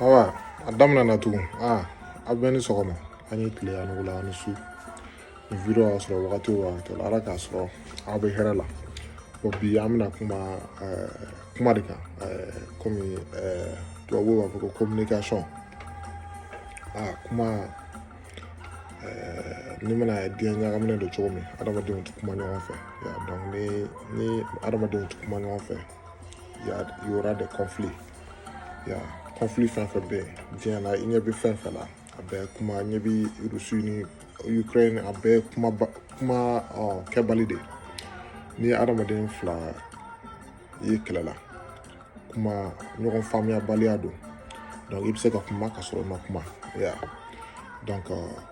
Awa Adama nana tugun aw bɛɛ ni sɔgɔma a ni tile a ni wula a ni su video y'a sɔrɔ wagati o wagati la ala k'a sɔrɔ aw bɛ hɛrɛ la bon bi an bɛna kuma eh, kuma de kan eh, komi eh, tubabuw b'a fɔ ko communication a ah, kuma ni mana diɲɛ ɲagaminen don cogo min adamadenw tɛ kuma ɲɔgɔn fɛ ya donc ni ni adamadenw tɛ kuma ɲɔgɔn fɛ ya y aura des conflits ya conflit fɛn fɛn bɛ yen diɲɛ na i ɲɛ bɛ fɛn fɛn na a bɛɛ kuma ɲɛ bɛ rusi ni ukraine a bɛɛ kuma kuma kɛbali de n'i ye adamaden fila ye kɛlɛ la kuma ɲɔgɔn faamuyabaliya don donc i bɛ se ka kuma ka sɔrɔ i ma kuma ya donc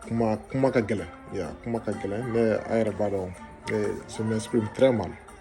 kuma kuma ka gɛlɛn ya kuma ka gɛlɛn ne a yɛrɛ b'a dɔn je m'exprime très mal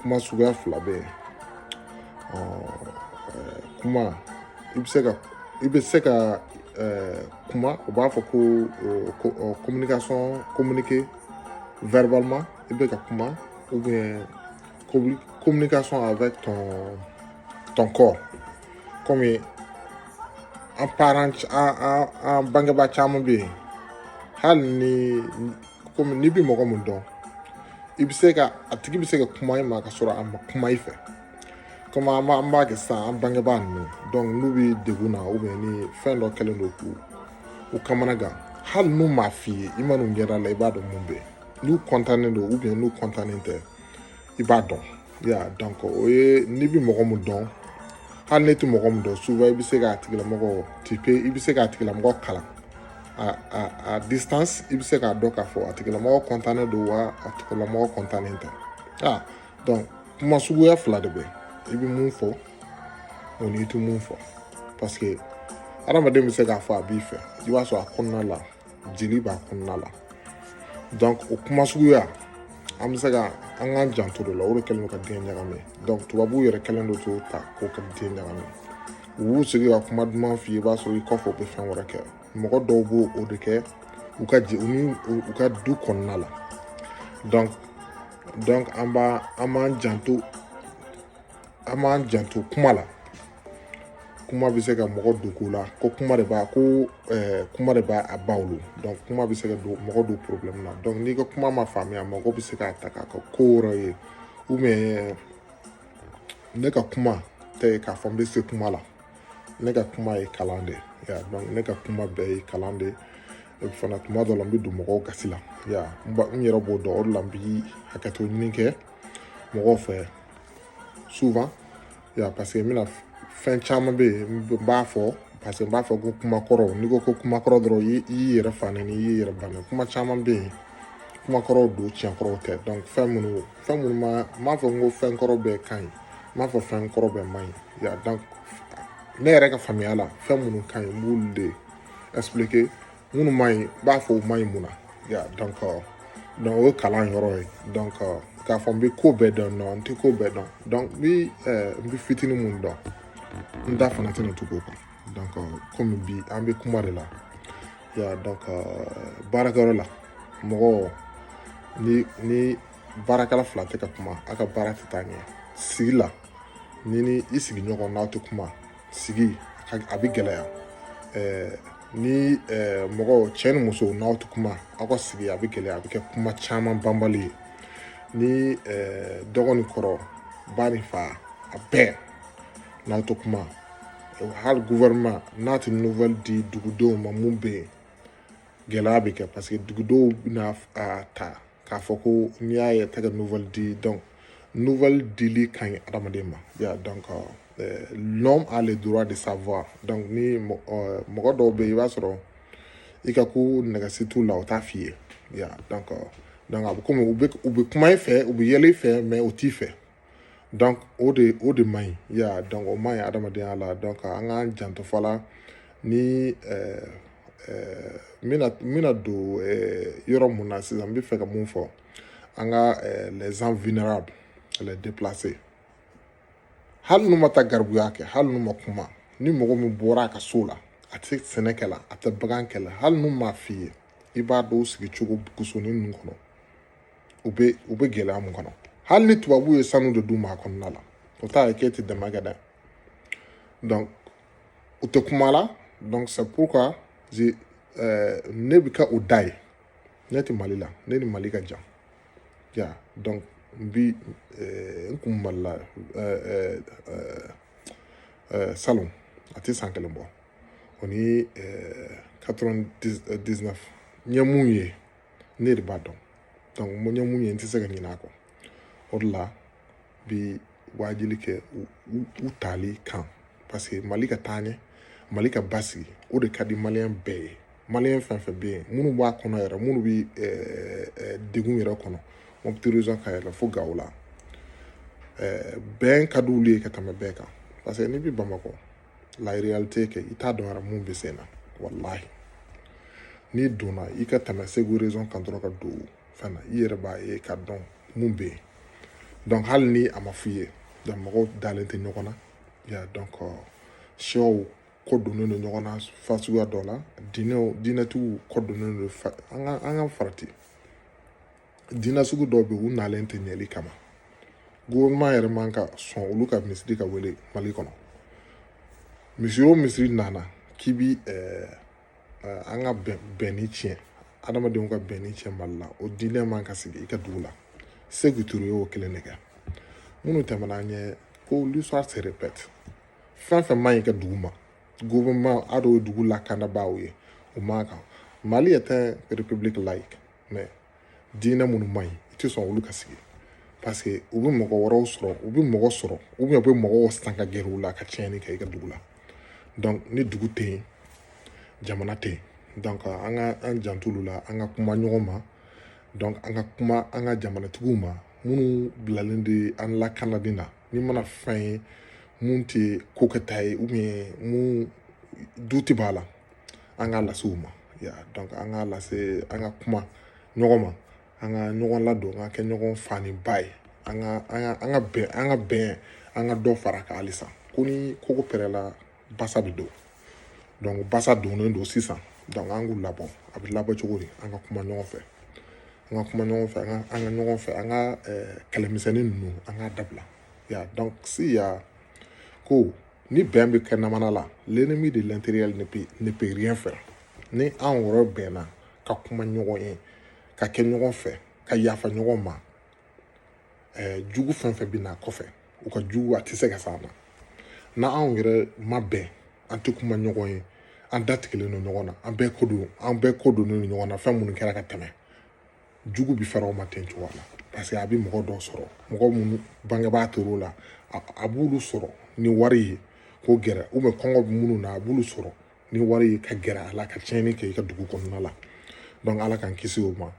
kuma suguya fila bɛ yen kuma i bɛ se ka i bɛ se ka kuma u b'a fɔ ko ko communication communiquer verbalement i bɛ ka kuma ou bien communication avec ton ton corps comme an parents an an an bangebaa caman bɛ yen hali ni komi n'i bɛ mɔgɔ min dɔn i bɛ se ka a tigi bɛ se ka kuma i ma ka sɔrɔ a ma kuma i fɛ komi an b'a an b'a kɛ sisan an bangebaa ninnu donc n'u bɛ degun na ou bien ni fɛn dɔ kɛlen don k'u u kamana gan hali n'u m'a f'i ye i man'u ɲɛda la i b'a dɔn mun bɛ yen n'u kɔntannen don ou bien n'u kɔntannen tɛ i b'a dɔn ya donc o ye n'i bɛ mɔgɔ min dɔn hali n'i tɛ mɔgɔ min dɔn souvent i bɛ se k'a tigilamɔgɔ tipe i bɛ se k'a tigilamɔgɔ kalan a a à distance i bɛ se k'a dɔn k'a fɔ a tigilamɔgɔ kɔntannen don wa a tigilamɔgɔ kɔntannen tɛ donc kuma suguya fila de bɛ i bɛ mun fɔ o n'i tɛ mun fɔ parce que adamaden bɛ se k'a fɔ a b'i fɛ i b'a sɔrɔ a kɔnɔna la jeli b'a kɔnɔna la donc o kuma suguya an bɛ se ka an k'an janto de la o de kɛlen don ka diɲɛ ɲagami donc tubabuw yɛrɛ kɛlen don k'o ta k'o ka diɲɛ ɲagami u b'u sigi ka kuma duman f'i ye i b'a sɔrɔ i kɔfɛ u bɛ fɛn wɛrɛ kɛ mɔgɔ dɔw b'o o de kɛ u ka je u ni u ka du kɔnɔna la donc donc an b'a an b'an janto an b'an janto kuma la kuma bɛ se ka mɔgɔ don ko la ko kuma de b'a ko kuma de b'a a ba wolo dɔnku kuma bɛ se ka don mɔgɔ don porobilɛmu na dɔnku n'i ka kuma ma faamuya mɔgɔ bɛ se k'a ta k'a kɛ ko wɛrɛ ye ubiyɛn ne ka kuma tɛ k'a fɔ n bɛ se kuma la ne ka kuma ye kalan de ya dɔnku ne ka kuma bɛɛ ye kalan de ye fana tuma dɔ la n bɛ don mɔgɔw gasi la ya n yɛrɛ b'o dɔn o de la n bi hakɛto ɲini kɛ mɔgɔw fɛ souvent Ya paseke n bɛna fɛn caman bɛ yen n b'a fɔ parce que n b'a fɔ ko kuma kɔrɔ n'i ko ko kuma kɔrɔ dɔrɔn i y'i yɛrɛ fa nɛni i y'i yɛrɛ ba nɛni kuma caman bɛ yen kuma kɔrɔw don tiɲɛ kɔrɔw tɛ donc fɛn minnu fɛn minnu ma n m'a fɔ n ko fɛn kɔrɔ bɛɛ ka ɲi n m'a fɔ fɛn kɔrɔ bɛɛ man ɲi ya donc ne yɛrɛ ka faamuya la fɛn minnu ka ɲi n b'olu de ɛsipilike minnu man ɲi n b'a fɔ u man ɲi mun na ya donc donc o ye kalan yɔrɔ ye donc k'a fɔ n bɛ ko bɛɛ dɔn non n tɛ ko bɛɛ dɔn donc n bɛ ɛɛ n bɛ fitinin mun dɔn n da fana tɛna tugu o kan donc komi bi an bɛ kuma de la ya donc baarakɛyɔrɔ la mɔgɔ ni ni baarakɛla fila tɛ ka kuma a ka baara tɛ taa ɲɛ sigi la ni ni i sigiɲɔgɔn n'aw tɛ kuma sigi a bɛ gɛlɛya ɛɛ ni ɛɛ mɔgɔ cɛ ni muso n'aw tɛ kuma aw ka sigi a bɛ gɛlɛya a bɛ kɛ kuma caman banbali ye ni ɛɛ dɔgɔ ni kɔrɔ ba ni fa a bɛɛ n'aw tɛ kuma hali gouvernement n'a tɛ nouvelle di dugudenw ma mun bɛ yen gɛlɛya bɛ kɛ paseke dugudenw bɛna a ta k'a fɔ ko n'i y'a ye tɛ ka nouvelle di donc nouvelle dili ka ɲi adamaden ma ya donc euh, l'homme a le droit de savoir donc ni euh, mɔgɔ dɔw bɛ yen i b'a sɔrɔ i ka ko nege si t'u la o t'a f'i ye ya donc euh, donc a bɛ komi u bɛ u bɛ kuma i fɛ u bɛ yɛlɛ i fɛ mais u t'i fɛ donc o de o de man ɲi ya donc o man ɲi adamadenya la donc an k'an janto voilà ni ɛɛ ɛɛ n bɛna n bɛna don ɛɛ yɔrɔ mun na sisan n bɛ fɛ ka mun fɔ an ka ɛɛ les gens vulnérables les déplacés hali n'u ma taa garibuya kɛ hali n'u ma kuma ni mɔgɔ min bɔra a ka so la a tɛ sɛnɛ kɛ la a tɛ bagan kɛ la hali n'u m'a f'i ye i b'a dɔn u sigi cogo bugusonin ninnu kɔnɔ u bɛ u bɛ gɛlɛya mun kɔnɔ hali ni tubabuw ye sanu de d'u ma a kɔnɔna la o t'a ye k'e tɛ dɛmɛ kɛ dɛ donc u tɛ kuma la donc c'est pourquoi je euh, ne bɛ kɛ o da ye ne tɛ mali la ne ni mali ka jan ya donc n bi euh, n kun mali la euh, euh, euh, salon a tɛ san kelen bɔ o ni euh, 99 n ye mun ye ne de b'a dɔn donc n ye mun ye n tɛ se ka ɲinɛ a kɔ o de la bi waajili kɛ u tali kan parce que mali ka taa ɲɛ mali ka basigi o de ka di maliyɛn bɛɛ ye maliyɛn fɛn fɛn bɛ yen minnu b'a kɔnɔ yɛrɛ minnu bɛ eh, eh, degun yɛrɛ kɔnɔ mɔputi région ka yɛlɛ fo gawo la eh, bɛn ka di olu ye ka tɛmɛ bɛɛ kan parce que n'i bɛ bamakɔ la réalité kɛ i t'a dɔn yɛrɛ mun bɛ sen na walahi n'i donna i ka tɛmɛ segu région kan dɔrɔn ka don fɛn na i yɛrɛ b'a ye ka dɔn mun bɛ yen donc hali ni a ma f'i ye donc mɔgɔw dalen tɛ ɲɔgɔn na ya donc euh, siyaw kɔ donnen don ɲɔgɔn na fa suguya dɔ la diinɛw diinɛtigiw kɔ donnen don an ka an ka farati diinɛ sugu dɔw bɛ u nalen tɛ ɲɛli kama gouvernement yɛrɛ man ka sɔn olu ka misiri ka wele mali kɔnɔ misiri o misiri nana k'i bi eh, eh, an ka bɛnni tiɲɛ adamadenw ka bɛnni tiɲɛ mali la o diinɛ man ka sigi i ka dugu la Sékou Touré y'o kelen de kɛ minnu tɛmɛna an ɲɛ ko l'histoire se répète fɛn fɛn man ɲi ka dugu ma gouvernement a dɔw ye dugu lakanabaaw ye o man kan mali est un république laïque mais diinɛ minnu man ɲi i tɛ sɔn olu ka sigi parce que u bɛ mɔgɔ wɛrɛw sɔrɔ u bɛ mɔgɔ sɔrɔ ou bien u bɛ mɔgɔw san ka gɛrɛ u la ka tiɲɛni kɛ i ka dugu la donc ni dugu tɛ yen jamana tɛ yen donc an ka an janto olu la an ka kuma ɲɔgɔn ma donc an ka kuma an ka jamanatigiw ma minnu bilalen de an lakanali na n'i mana fɛn ye mun tɛ ko kɛta ye ou bien mun doute b'a la an k'a lase u ma ya donc an k'a lase an ka kuma ɲɔgɔn ma an ka ɲɔgɔn ladon an ka kɛ ɲɔgɔn fa ni ba ye an ka an ka an ka bɛn an ka bɛn an ka dɔ fara kan halisa ko ni koko pɛrɛla basa bɛ don donc basa donnen don sisan donc an k'u labɔ a bɛ labɔ cogo di an ka kuma ɲɔgɔn fɛ an ka kuma ɲɔgɔn fɛ an ka an ka ɲɔgɔn fɛ an ka kɛlɛmisɛnnin ninnu an k'a dabila ya donc siya ko ni bɛn bɛ kɛ jamana la l'ennemi de l'intérieur ne peut ne peut rien faire ni an yɛrɛ bɛnna ka kuma ɲɔgɔn ye ka kɛ ɲɔgɔn fɛ ka yafa ɲɔgɔn ma ɛɛ jugu fɛn fɛn bɛ na kɔfɛ u ka juguya tɛ se ka s'an na n'anw yɛrɛ ma bɛn an tɛ kuma ɲɔgɔn ye an datigɛlen don ɲɔgɔn na an bɛɛ kɔ don an bɛɛ kɔ donnen don ɲɔgɔn na fɛn minnu kɛra ka tɛmɛ jugu bi fara o ma ten cogoya la parce que a bɛ mɔgɔ dɔw sɔrɔ mɔgɔ minnu bangebaa tor'o la a b'olu sɔrɔ ni wari ye k'o gɛrɛ ou bien kɔngɔ bɛ minnu na a b'olu sɔrɔ ni wari ye ka gɛrɛ a la ka tiɲɛni kɛ i ka dugu kɔnɔna la donc ala k'an kisi o ma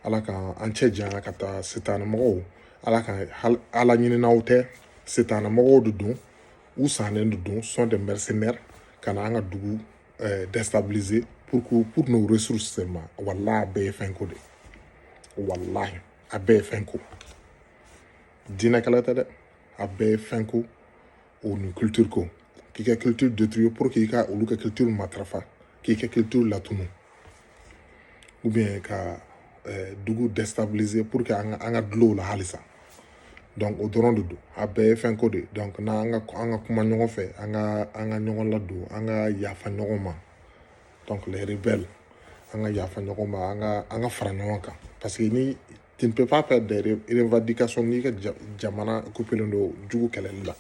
ala k'an an cɛ janya ka taa sitanɛ mɔgɔw ala ka ala ɲininaw tɛ sitanɛ mɔgɔw de don u sannen de don sont des mercenaires ka na an ka dugu euh, déstabiliser pour que pour nos ressources seulement walahi a bɛɛ ye fɛnko de ye walahi a bɛɛ ye fɛnko diinɛkɛlɛ tɛ dɛ a bɛɛ ye fɛnko o ni culture ko k'i ka culture détruire pour que i ka olu ka culture matarafa k'i ka culture latunu ou bien ka eh, dugu déstabiliser pour que an ka dulon u la halisa donc o dɔrɔn de don a bɛɛ ye fɛn ko de donc n'an ka an ka kuma ɲɔgɔn fɛ an ka an ka ɲɔgɔn ladon an ka yafa ɲɔgɔn ma donc les rebelles an ka yafa ɲɔgɔn ma an ka an ka fara ɲɔgɔn kan parce que ni tu ne peux pas faire des revendications n'i ka jamana occupélen don jugu kɛlɛli la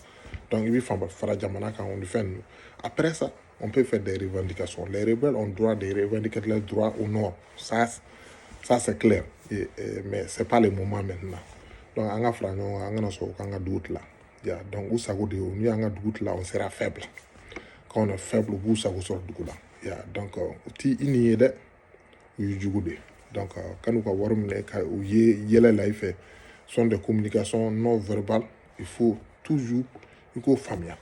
donc i bɛ fara jamana kan o ni fɛn ninnu après ça on peut faire des revendications les rebelles ont droit de revendiquer leurs droits au nord ça ça c'est clair et, et, mais c'est pas le moment maintenant donc an ka fara ɲɔgɔn kan an kana sɔn k'an ka dugu tila ya donc u sago de y'o n'u y'an ka dugu tila on sera faible quand on est faible u b'u sago sɔrɔ dugu la ya donc u t'i nin ye dɛ u y'i jugu de donc kan'u ka wari minɛ ko u yɛlɛla i fɛ sont des communications non verbales il faut toujours i k'o faamuya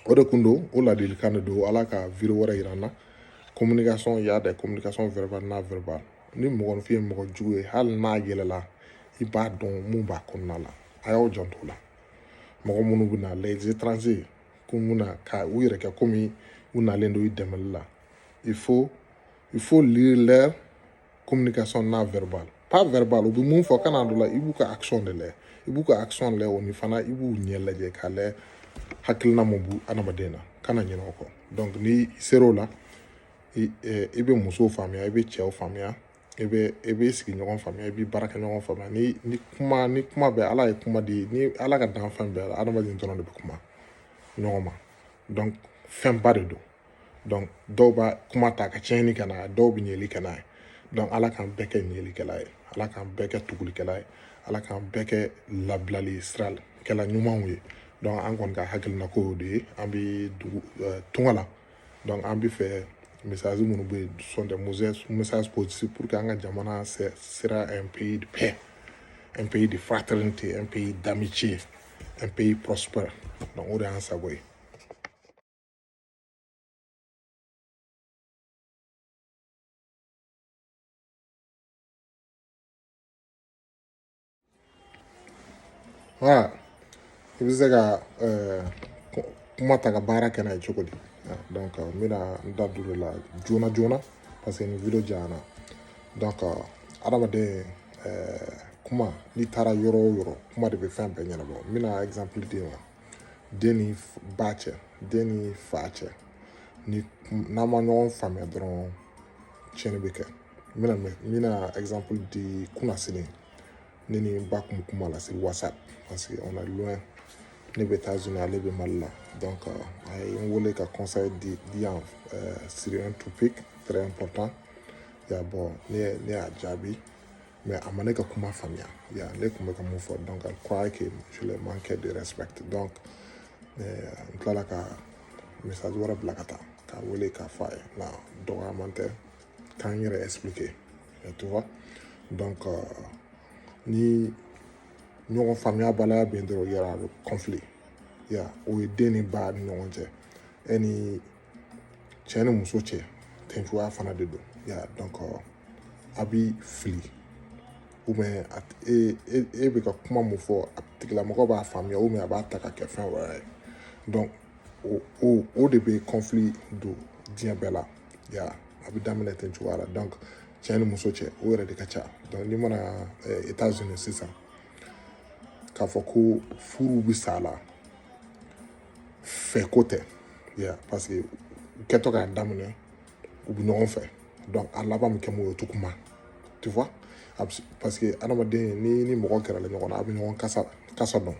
o de kun don o ladilikan de don ala ka video wɛrɛ yira an na communication y'a des communications verbales non verbales ni mɔgɔninfin ye mɔgɔ jugu ye hali n'a yɛlɛla i b'a dɔn mun b'a kɔnɔna la a y'aw janto o la mɔgɔ minnu bɛ na les étrangers ko mun na ka u yɛrɛ kɛ komi u nalen don i dɛmɛli la il faut il faut lire leur communication non verbale pas verbale u bɛ mun fɔ kana d'o la i b'u ka action de lajɛ i b'u ka action lajɛ o ni fana i b'u ɲɛ lajɛ k'a lajɛ hakilina mun b'o adamaden na kana ɲinɛ o kɔ donc n'i ser'o la i i bɛ musow faamuya i bɛ cɛw faamuya i bɛ i bɛ sigiɲɔgɔn faamuya i bɛ baarakɛɲɔgɔn faamuya ni ni kuma ni kuma bɛ ala ye kuma di ni ala ka danfɛn bɛɛ la adamaden dɔrɔn de bɛ kuma ɲɔgɔn ma donc fɛnba de don donc dɔw b'a kuma ta ka tiɲɛni kɛ n'a ye dɔw bɛ ɲɛli kɛ n'a ye donc ala k'an bɛɛ kɛ ɲɛlikɛla ye ala k'an bɛɛ kɛ tugulikɛla ye ala k'an bɛɛ kɛ labilali sirakɛla ɲumanw ye donc an kɔni ka hakilina ko y'o de ye an bɛ dugu eh, tunga la donc an b'a fɛ message minnu bɛ yen sont des messages positifs pour que an ka jamana sera un pays de paix un pays de fraternité un pays d'amitié un pays prospère donc o de y'an sago ye Voilà i bɛ se ka kuma ta ka baara kɛ n'a ye cogo di donc n bɛna n da don o la joona joona parce que nin video janyana donc adamaden kuma n'i taara yɔrɔ o yɔrɔ kuma de bɛ fɛn bɛɛ ɲɛnabɔ n bɛna exemple di aw ma den ni ba cɛ den ni fa cɛ ni n'an ma ɲɔgɔn faamuya dɔrɔn tiɲɛni bɛ kɛ n bɛna n bɛna exemple di kunnasini ne ni n ba kun bɛ kuma la sur WhatsApp parce que on est loin ne bɛ États-Unis ale bɛ mali la donc a ye n wele ka conseil di di yan sur un topic très important ya bon ne ne y'a jaabi mais a ma ne ka kuma faamuya ya ne tun bɛ ka mun fɔ donc elle croyait que je le manquais de respect donc euh, n tilala ka message wɛrɛ bila ka taa k'a wele k'a fɔ a ye nka dɔgɔyaman tɛ ka n yɛrɛ expliquer tu vois donc euh, ni ɲɔgɔn faamuyabaliya bɛ yen dɔrɔn il y aura conflit ya o ye den ni ba ni ɲɔgɔn cɛ e ni cɛ ni muso cɛ ten cogoya fana de don ya donc a bi fili ou bien e e e bɛ ka kuma mun fɔ a tigilamɔgɔ b'a faamuya ou bien a b'a ta ka kɛ fɛn wɛrɛ ye donc o o o de bɛ conflit don diɲɛ bɛɛ la ya a bɛ daminɛ ten cogoya la donc cɛ ni muso cɛ o yɛrɛ de ka ca donc n'i mana eh, États-Unis sisan k'a fɔ ko furu bɛ sa la fɛ ko tɛ ya parce que u kɛtɔ k'a daminɛ u bɛ ɲɔgɔn fɛ donc a laban bɛ kɛ mun ye o tɛ kuma tu vois parce que adamaden ni ni mɔgɔ gɛrɛla ɲɔgɔn na a bɛ ɲɔgɔn kasa kasa dɔn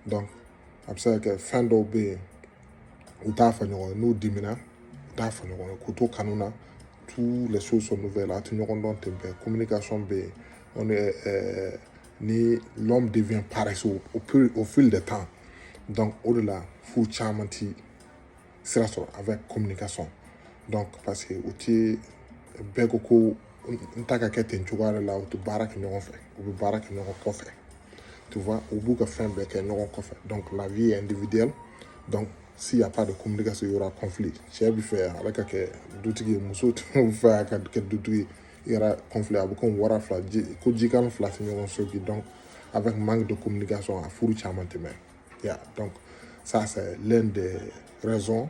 donc a bɛ se ka kɛ fɛn dɔw bɛ yen u t'a fɔ ɲɔgɔn ye n'u dimina u t'a fɔ ɲɔgɔn ye k'u to kanu na tous les choses sont nouvelles a tɛ ɲɔgɔn dɔn ten bɛɛ communication bɛ yen on est ɛɛ ni l'homme devient paresseux au, plus, au fil du temps donc o de la furu caman ti sira sɔrɔ avec communication donc parce que o ti bɛɛ ko ko n ta ka kɛ ten cogoya de la u tɛ baara kɛ ɲɔgɔn fɛ u bɛ baara kɛ ɲɔgɔn kɔfɛ tu vois u b'u ka fɛn bɛɛ kɛ ɲɔgɔn kɔfɛ donc la vie est individuelle donc s'il y a pas de communication il y aura conflit cɛ bɛ fɛ ale ka kɛ dutigi ye muso bɛ fɛ a ka kɛ dutigi ye yɛrɛ kɔnfi a bɛ ko wara fila ko jikan fila tɛ ɲɔgɔn so bi dɔn a bɛ man de kɔmi ka sɔn a furu caman tɛmɛ ya dɔn sa lɛn de rɛson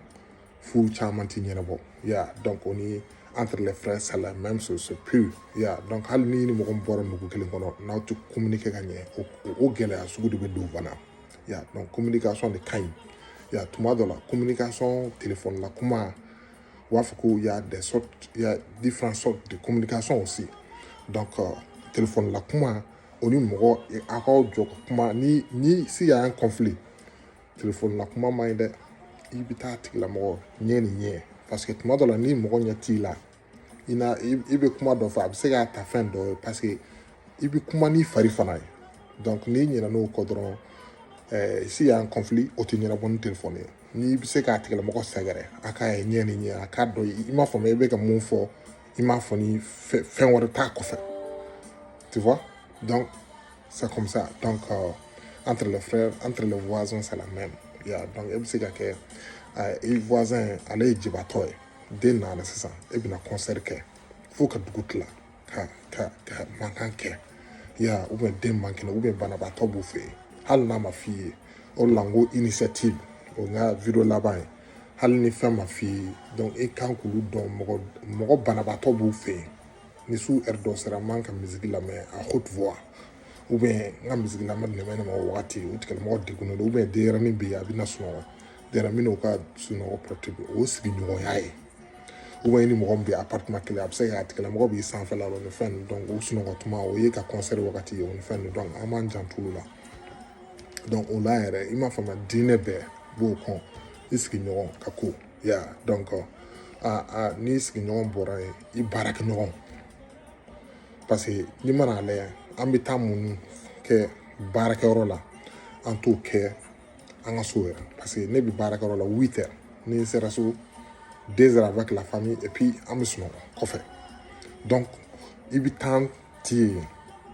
furu caman tɛ ɲɛnabɔ ya dɔn ko ni an tɛrɛ fɛn sala mɛ so so pe ya dɔn hali ni ni mɔgɔ bɔra nugu kelen kɔnɔ n'aw tɛ kɔmimuni kɛ ka ɲɛ o gɛlɛya sugu de bɛ don fana ya dɔn kɔmi ka sɔn de ka ɲi ya tuma dɔ la kɔmi ka sɔn tile fɔlɔla kuma U b'a fɔ ko y'a différentes sortes de communication aussi donc euh, téléphone la kuma o ni mɔgɔ a k'aw jɔ ka kuma ni ni si y'a un conflit téléphone la kuma man ɲi dɛ i bɛ taa tigilamɔgɔ ɲɛ ni ɲɛ parce que tuma dɔ la ni mɔgɔ ɲɛ t'i la i na i bɛ kuma dɔ fɔ a bɛ se k'a ta fɛn dɔ ye parce que i bɛ kuma n'i fari fana ye donc n'i ɲinɛna o kɔ dɔrɔn eh, si y'a un conflit o tɛ ɲɛnabɔ ni téléphone ye n'i bɛ se k'a tigilamɔgɔ sɛgɛrɛ a k'a ye ɲɛ ni ɲɛ a k'a dɔn i m'a faamuya i bɛ ka mun fɔ i m'a fɔ ni fɛn wɛrɛ t'a kɔfɛ tu vois donc c'est comme ça donc euh, entre les frères entre les voisins c'est la même ya donc e bɛ se ka kɛ euh, i voisin ale ye jibatɔ ye den nana sisan e bɛna concert kɛ fo ka dugu tila ka ka ka mankan kɛ ya u bɛ den man kɛnɛ u bɛ banabaatɔ b'u fɛ yen hali n'a ma f'i ye o de la n ko initiative o n ka vidéo laban ye hali ni fɛn ma f'i ye donc e kan k'olu dɔn mɔgɔ mɔgɔ banabaatɔ b'u fɛ yen ni su heure dɔ sera n man ka misiki lamɛn à haute voix ou bien n ka misiki lamɛn dɛmɛ ne ma o wagati o tigilamɔgɔ degunnen don ou bien denyɛrɛnin bɛ yen a bɛna sunɔgɔ denyɛrɛnin n'o ka sunɔgɔ perturber o sigiɲɔgɔnya ye ou bien i ni mɔgɔ min bɛ appartement kelen a bɛ se ka tigilamɔgɔ b'i sanfɛla ni fɛn donc u sunɔgɔ tuma o y'i ka concert wagati ye o ni fɛn donc an b'an janto o la donc o la yɛrɛ i m'a faamuya diinɛ bɛɛ b'o kɔn i sigiɲɔgɔn ka ko ya donc a a n'i sigiɲɔgɔn bɔra yen i baarakɛɲɔgɔn parce que n'i man'a lajɛ an bɛ temps min kɛ baarakɛyɔrɔ la an t'o kɛ an ka so yɛrɛ parce que ne bɛ baarakɛyɔrɔ la huit heures ni n sera so deux heures avec la famille et puis an bɛ sunɔgɔ kɔfɛ donc i bɛ temps tiɲɛ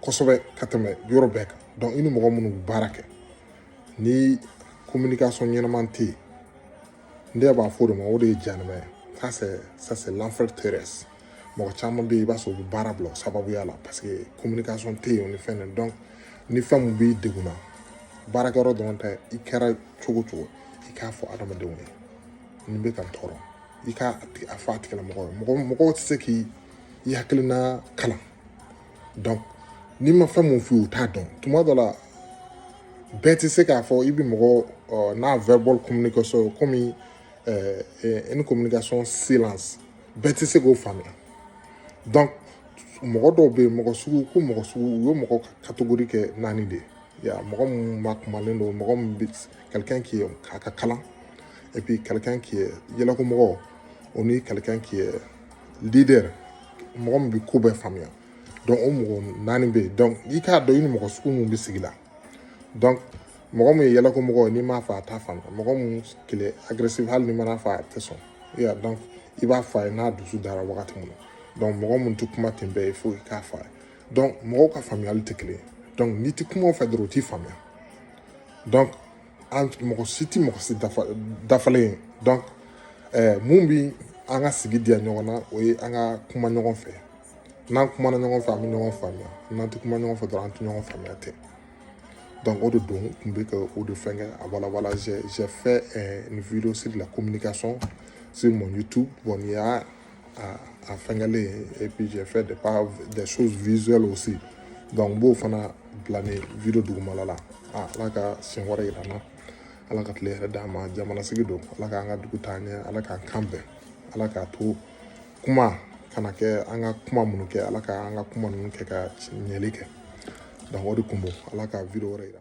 kosɛbɛ ka tɛmɛ yɔrɔ bɛɛ kan donc i ni mɔgɔ minnu bɛ baara kɛ ni communication ɲɛnama tɛ yen ne yɛrɛ b'a fɔ o de ma o de ye jahanama ye ça c'est ça c'est l'enfer terrestre mɔgɔ caman bɛ yen i b'a sɔrɔ u bɛ baara bila o sababuya la parce que communication tɛ yen o ni fɛn na donc ni fɛn min b'i degun na baarakɛyɔrɔ dɔrɔn tɛ i kɛra cogo o cogo i k'a fɔ adamadenw ye nin bɛ ka n tɔɔrɔ i k'a a fɔ a tigilamɔgɔ ye mɔgɔ mɔgɔw tɛ se k'i i hakilina kalan donc n'i ma fɛn min f'u ye u t'a dɔn tuma dɔ la bɛɛ tɛ se k'a fɔ i bɛ mɔgɔ non-verbal communication komi euh, une communication silence bɛɛ tɛ se k'o faamuya donc mɔgɔ dɔw bɛ yen mɔgɔ sugu ko mɔgɔ sugu u ye mɔgɔ catégorie kɛ naani de ye ya mɔgɔ min masumalen don mɔgɔ min bɛ quelqu'un qui a ka kalan et puis quelqu'un qui est yɛlɛko mɔgɔ o ni quelqu'un qui est leader mɔgɔ min bɛ ko bɛɛ faamuya donc o mɔgɔ naani bɛ yen donc i k'a dɔn i ni mɔgɔ sugu mun bɛ sigi la donc mɔgɔ min ye yɛlɛko mɔgɔ n'i m'a fɔ a t'a faamuya mɔgɔ min qui est agressif hali n'i mana fɔ a tɛ sɔn i y'a dɔn i b'a fɔ a ye n'a dusu dara wagati min na donc mɔgɔ min tɛ kuma ten bɛɛ ye fo i k'a fɔ a ye donc mɔgɔw ka faamuyali tɛ kelen ye donc n'i tɛ kuma u fɛ dɔrɔn u t'i faamuya donc an mɔgɔ si tɛ mɔgɔ si dafalen ye donc eh, mun bi an ka sigi diya ɲɔgɔn na o ye an ka kuma ɲɔgɔn fɛ n'an kumana ɲɔgɔn fɛ an bɛ ɲɔgɔn faamuya n'an tɛ kuma ɲɔgɔn fɛ dɔrɔn an tɛ ɲɔgɔn faamuya tɛ donc o de don n tun bɛ ka o de fɛnkɛ a walawala j'ai fait eh, une vidéo sur la communication sur mon YouTube bon n'i y'a a a fɛngɛlen et puis j'ai fait des pas des choses visuelles aussi donc n b'o fana bila nin video dugumala la a ala ka siɲɛ wɛrɛ yira an na ala ka tile hɛrɛ d'an ma jamana sigi don ala k'an ka dugu taa ɲɛ ala k'an kan bɛn ala k'a to kuma kana kɛ an ka kuma minnu kɛ ala ka an ka kuma ninnu kɛ ka ɲɛli kɛ donc o de kun don ala ka video wɛrɛ yira